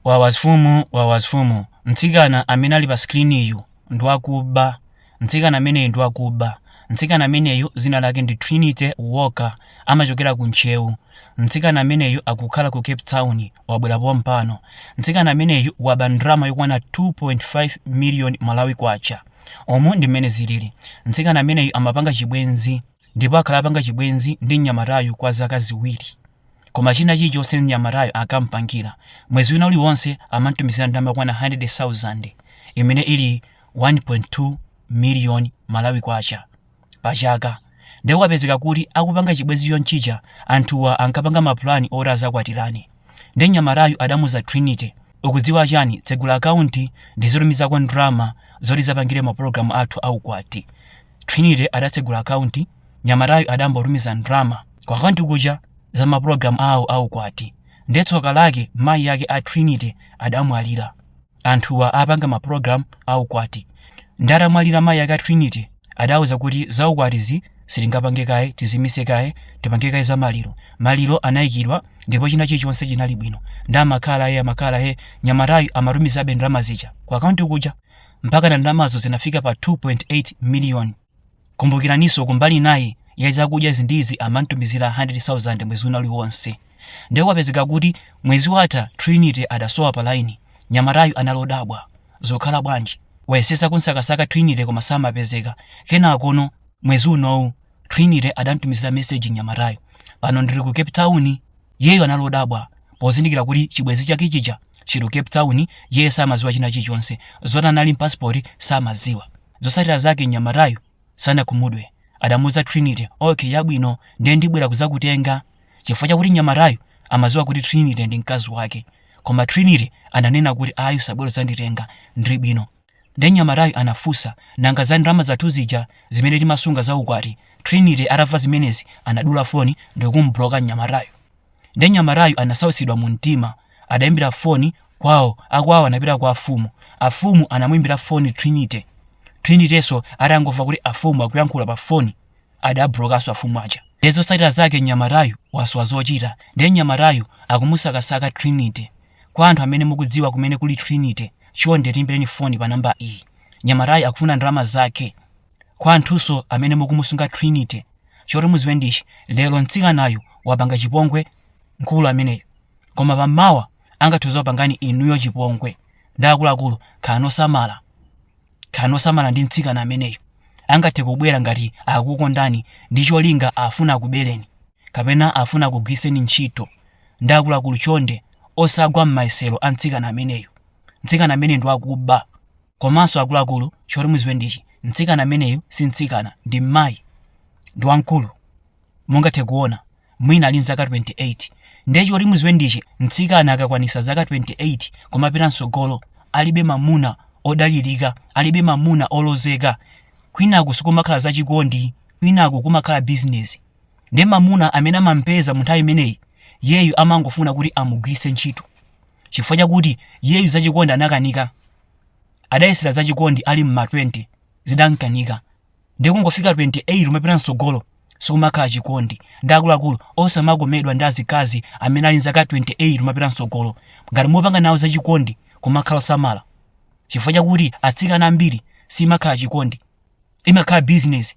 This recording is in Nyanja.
Wawa mfumu wawa mfumu mtsikana amene ali pa screen-yu ndwakuba mtsikana ameneyu ndwakuba mtsikana ameneyu zina lake ndi Trinity Walker amachokera ku ntcheu mtsikana ameneyu akukhala ku cape town wabwera pompano mtsikana ameneyu waba ndalama yokwana 2.5 million Malawi kwacha umu ndi mmene zilili mtsikana ameneyu amapanga chibwenzi ndipo akhala apanga chibwenzi ndi mnyamatayu kwa zaka ziwiri koma china chilichonse mnyamatayo ankampangira mwezi wina uliwonse amamtumizira ndalama yokwana 100,000 imene ili 1.2 miliyoni malawi kwacha pa chaka ndipo kwapezeka kuti akupanga chibwenzi chonchicha anthuwa ankapanga mapulani oti azakwatirane ndi mnyamatayu adamuza trinity ukudziwa chani tsegula akaunti ndizitumizako ndalama zoti tizapangire mapulogalamu athu aukwati Trinity adatsegula akaunti, mnyamatayu adangotumiza ndalama ku akaunti kuja za mapulogalamu awo a ukwati. Ndiye tsoka lake mayi ake a Trinity adamwalira. Anthuwa apanga mapulogalamu a ukwati. Ndiye atamwalira mayi ake a Trinity adauza kuti za ukwatizi sitingapange kaye, tizimitse kaye, tipange kaye za maliro. Maliro anaikidwa ndipo china chilichonse chinali bwino. Ndiye amakhala he, amakhala he, mnyamatayu amatumizabe ndalama zija ku akaunti kuja. mpakana ndalamazo zinafika pa 2.8 miliyoni. Kumbukiraninso kumbali inayi ya zakudya izi ndi izi amamtumizira 100,000 mwezi wina uliwonse. Ndiye kwapezeka kuti mwezi watha Trinity adasowa pa laini. Mnyamatayu anali odabwa. Zikukhala bwanji? Wayesesa kumsakasaka Trinity koma samapezeka. Kenakono mwezi unowu Trinity adamtumizira meseji mnyamatayu. Pano ndili ku Cape Town. Iyeyu anali odabwa pozindikira kuti chibwenzi chake chija chili ku Cape Town, iye samadziwa china chilichonse. Zoti anali ndi pasipoti samadziwa. Zotsatira zake mnyamatayu sanakhumudwe. Adamuuza Trinity, Okay, chabwino, ndiye ndibwera kudzakutenga. Chifukwa chakuti mnyamatayu amadziwa kuti Trinity ndi mkazi wake. Koma Trinity ananena kuti ayi usabwere kudzanditenga, ndili bwino. Nde mnyamatayu anafunsa, nanga za ndalama zathu zija zimene timasunga za ukwati? Trinity atamva zimenezi anadula foni ndikumubuloka mnyamatayu. Nde mnyamatayu anasautsidwa mu mtima, adaimbira foni kwao, akwao anapita kwa afumu, afumu anamuimbira foni Trinity, Trinityso atangomva kuti afumu akuyankhula pa foni adabulokaso afumu aja. Nde zosatira zake mnyamatayu wasowa zochita, nde mnyamatayu akumusakasaka Trinity. Kwa anthu amene mukudziwa kumene kuli Trinity chonde tiimbireni foni pa namba iyi. Mnyamatayu akufuna ndalama zake. Kwa anthunso amene mukumusunga Trinity choti muziwe ndi ichi lero mtsikanayu wapanga chipongwe mkulu ameneyu koma pammawa angathe kuzakupangani inuyo chipongwe ndi akuluakulu khalani osamala. Khalani osamala ndi mtsikana ameneyu angathe kubwera ngati akukukondani ndi cholinga afuna akubereni. kapena afuna akugwiritseni ntchito ndi akuluakulu chonde osagwa mmayesero a mtsikana ameneyu mtsikana ameneyu ndi wakuba komanso akuluakulu choti muziwe ndichi mtsikana ameneyu si mtsikana ndi mmayi ndi wamkulu mungathe kuona mwina ali mzaka 28 ndiye choti muziwe ndichi mtsikana akakwanisa zaka 28 kumapita mtsogolo alibe mamuna odalirika alibe mamuna olozeka kwinaku sikumakhala zachikondi kwinaku kumakhala bizinesi nde mamuna amene amampeza munthawi imeneyi yeyu amangofuna kuti amugwiritse ntchito chifukwa chakuti yeyu zachikondi anakanika adayesera zachikondi ali mma 20 zidamkanika nde kungofika 28 kumapita mtsogolo sikumakhala chikondi ndi akuluakulu osamakomedwa ndi azikazi amene ali nzaka 28 kumapita mtsogolo ngati mukupanga nawo zachikondi kumakhala osamala chifukwa chakuti atsikana ambiri simakhala chikondi imakhala bizinesi